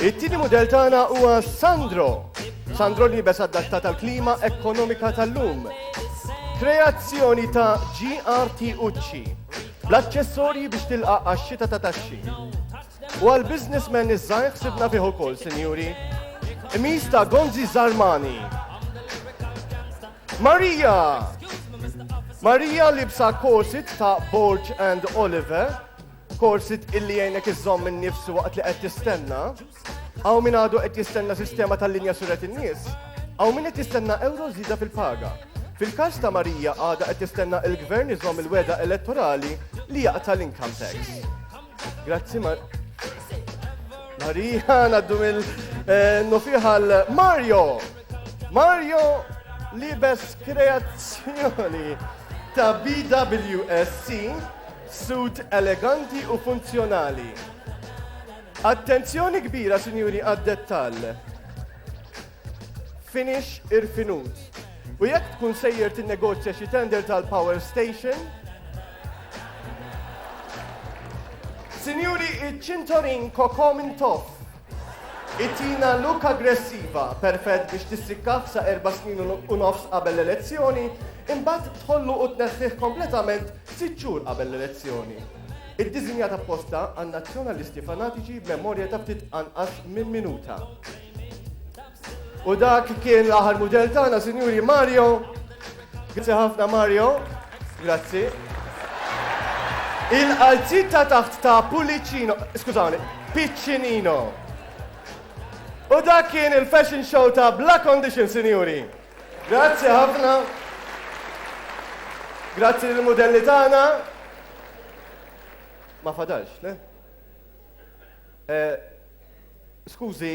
It-tieni mudell tagħna huwa Sandro. Sandro li jibes adatta tal-klima ekonomika tal-lum. Kreazzjoni ta' GRT Ucci. Bl-aċċessorji biex tilqa' għax-xita ta' taxxi. U għal businessmen iż-żgħir ħsibna fih ukoll, sinjuri. Imis ta' Gonzi Zarmani. Marija! Marija libsa korsit ta' Borg and Oliver Korsi illi jgħinek iżżomm in-nifs waqt li qed tistenna. Hawn min għadu qed jistenna sistema tal-linja suret in-nies. Hawn min qed jistenna euro żida fil-paga. Fil-każ ta' Marija għada qed tistenna il-gvern iżomm il-weda elettorali li jaqta' l-income tax. Grazzi Mar. Marija naddu mill eh, nofiħal Mario. Mario libes kreazzjoni ta' BWSC Suit eleganti u funzjonali. Attenzjoni kbira, sinjuri, għad-dettall. Finish irfinut. U jekk tkun sejjer tinnegozja xi tender tal-power station, Sinjuri, iċ-ċintorin kokom intof. Itina look aggressiva, perfett biex tissikkah sa erba' snin u nofs qabel l-elezzjoni, imbagħad tħollu u tneħħih kompletament sitt xhur qabel l-elezzjoni. Iddiżinjat apposta għan-Nazzjonalisti fanatiċi b'memorja ta' ftit anqas minn minuta. U dak kien l-aħħar mudell tagħna, Sinjuri Mario. Grazzi ħafna Mario. Grazzi. Il-qalziet ta' taħt ta' Pulicino, skużawni, Piccinino. U dak kien il-fashion show ta' Black Condition, sinjuri. Grazzi ħafna. Grazzi lill mudelli tagħna. Ma fadalx, le? Eh, skużi,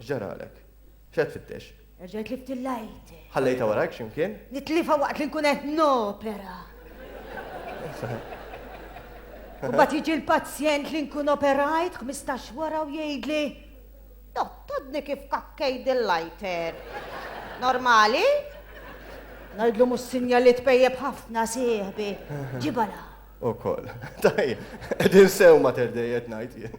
X'ġaralek? X'qed tfittex? Erġajt tlift il-lighter. Ħallejtha warajk xi mkien? Nitlifha waqt li nkun qed nopera. Imbagħad jiġi l-pazjent li nkun operajt ħmistax wara u jgħidli Dottodni kif kakkejd il-lighter. Normali? Ngħidlu mhux sinjali tpejjeb ħafna sieħbi. Ġibala. Ukoll. Tajjeb, qegħdin sew ma terdejjed ngħid jien.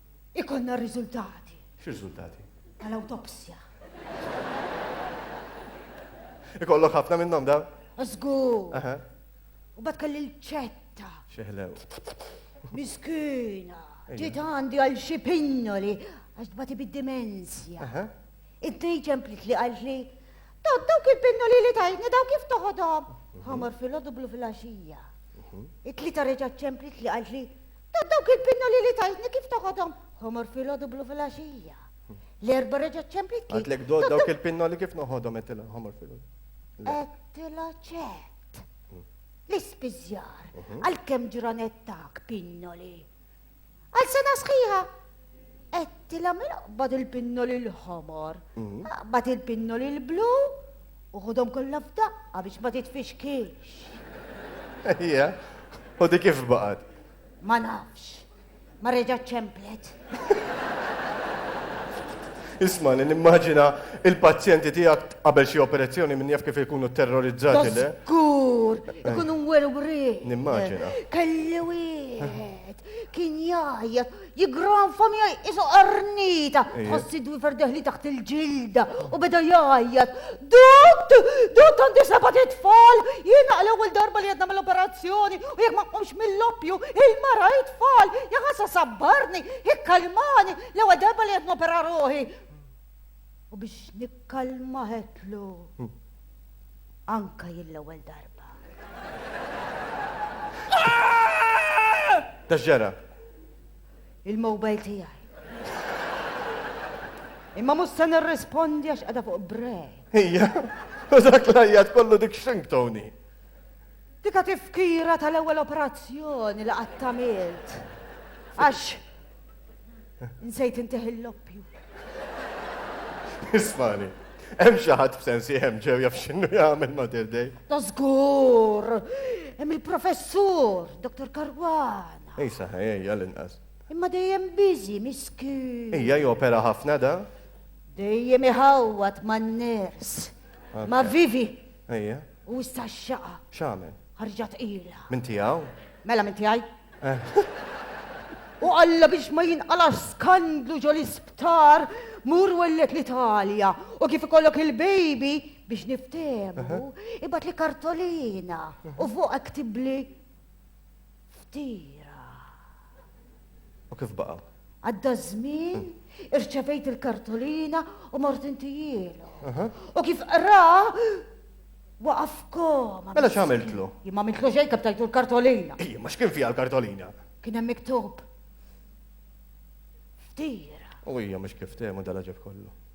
Ikonna r-riżultati. X'riżultati? Tal-awtopsja. Ikollok ħafna minnhom dawn? Żgur. Aha. U bad kelli l-ċetta. Xeħlew. Miskina. Ġiet għandi għal xi pinnoli għax tbati bid-dimensja. Aha. Id-dej ġemplit li għalt li dawk dawk il-pinnoli li tajtni dawk kif toħodhom. Ħamar fil-ħodu blu fil-għaxija. It-tlita reġa' ċemplit li għalt li Ta' dawk il-pinnoli li tajtni kif toħodhom? Ħomor filgħodu blu filgħaxija. L-erba' reġgħet ċemplit kif. Għadlek dod dawk il-pinnoli kif noħodhom għedtilha ħomor filgħodu. Għedtilha ċett. Mm. L-ispiżjar, mhm. għalkemm ġranet tak pinnoli. Għal sena sħiħa, Għedtilha mela qbad il-pinnoli l-ħomor, qbad il-pinnoli l-blu u ħudhom kollha f'daqqa biex ma titfixkilx. Ejja, u di kif baqgħet? Ma nafx. Ma reġgħet ċemplet. Isma' li nimmaġina il-pazjenti tiegħek qabel xi operazzjoni minn jaf kif ikunu terrorizzati le. Żgur, ikunu mwerwri. Nimmaġina. Kelli wieħed kien jgħajjat jigranfom jgħaj isu qarnita, tħossi dwi ferdeħli taħt il-ġilda u beda jgħajjat. Dott, dott għandi sabat it-tfal, jina għal ewwel darba li għedna mill-operazzjoni u jek ma qomx mill-loppju, il-mara it-tfal, jgħasa sabbarni, ikkalmani, l-ewwel darba li għedna opera roħi. U biex nikkalma ħetlu anka jill-ewwel darba. Ta' x'ġara? Il-mobile tiegħi. Imma mhux se nirrispondi għax qiegħda fuq break. Ija, u dak l-ajjat kollu dik xink Tony. Dika tifkira tal-ewwel operazzjoni li qatt tamilt. Għax Nsejt intih il-loppju. Ismani, hemm xi ħadd b'sensi hemm ġew jaf x'inhu jagħmel Mother Day. Da żgur! Hemm il-professur, Dr. Karwana. Ej saħħa, ej, għal-inqas. Imma dejjem biżi, miskin. Ejja jopera ħafna da? Dejjem iħawwat man-ners. Ma vivi. Ejja. U issa x-xaqa. X'għamel? Ħarġha tqila. Minn tiegħu? Mela minn tiegħi. U alla biex ma jinqalax skandlu ġo l-isptar, mur wellet l-Italja u kif ikollok il-baby biex niftehmu, ibgħat li kartolina u fuq iktibli Ftira. U kif baqgħu? Għadda żmien, irċevejt il-kartolina u mort intijielu. U kif qra, waqaf koma. Mela x'għamiltlu? Jien ma mitlu xejn kif tajtu l-kartolina. Ej, ma x'kien fiha l-kartolina? Kien hemm miktub. Ftira. U hija mhux kif temu dal-ġeb kollu.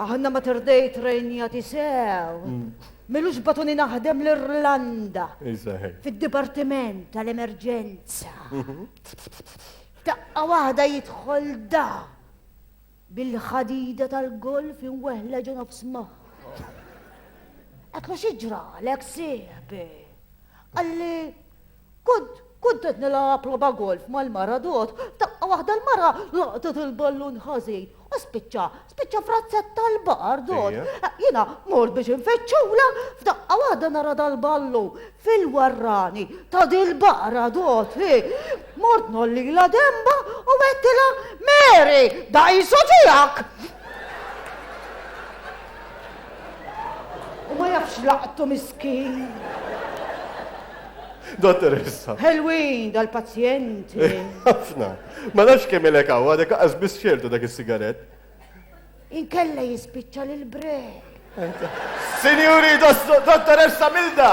Aħna Mater Dei trejnjati sew. Milux batuni naħdem l-Irlanda. Fid-Dipartiment tal-Emerġenza. Taqqa waħda jidħol da bil-ħadida tal-golf inweħla ġo nofs maħħa. Għatlu xieġra l-ek sieħbi. Għalli Kont kont qed nilgħab logħba golf mal-mara dot, f'daqqa waħda l-mara laqtet il-ballun ħażin u spiċċa, spiċċa f'razzetta l-baħar dot. Jiena mort biex infeċċulha, f'daqqa waħda nara dal-ballu fil-warrani ta' dil-baqra dot. Mort nollila demba u għedtilha Mary, da isu tiegħek! U ma jafx laqtu miskin. Dottoressa. Ħelwin dal-pazjenti. Ħafna. Ma nafx kemm ilek hawn, għadek aqas biss xertu dak is-sigarett. Inkella jispiċċa lil break. Sinjuri, dottoressa Milda!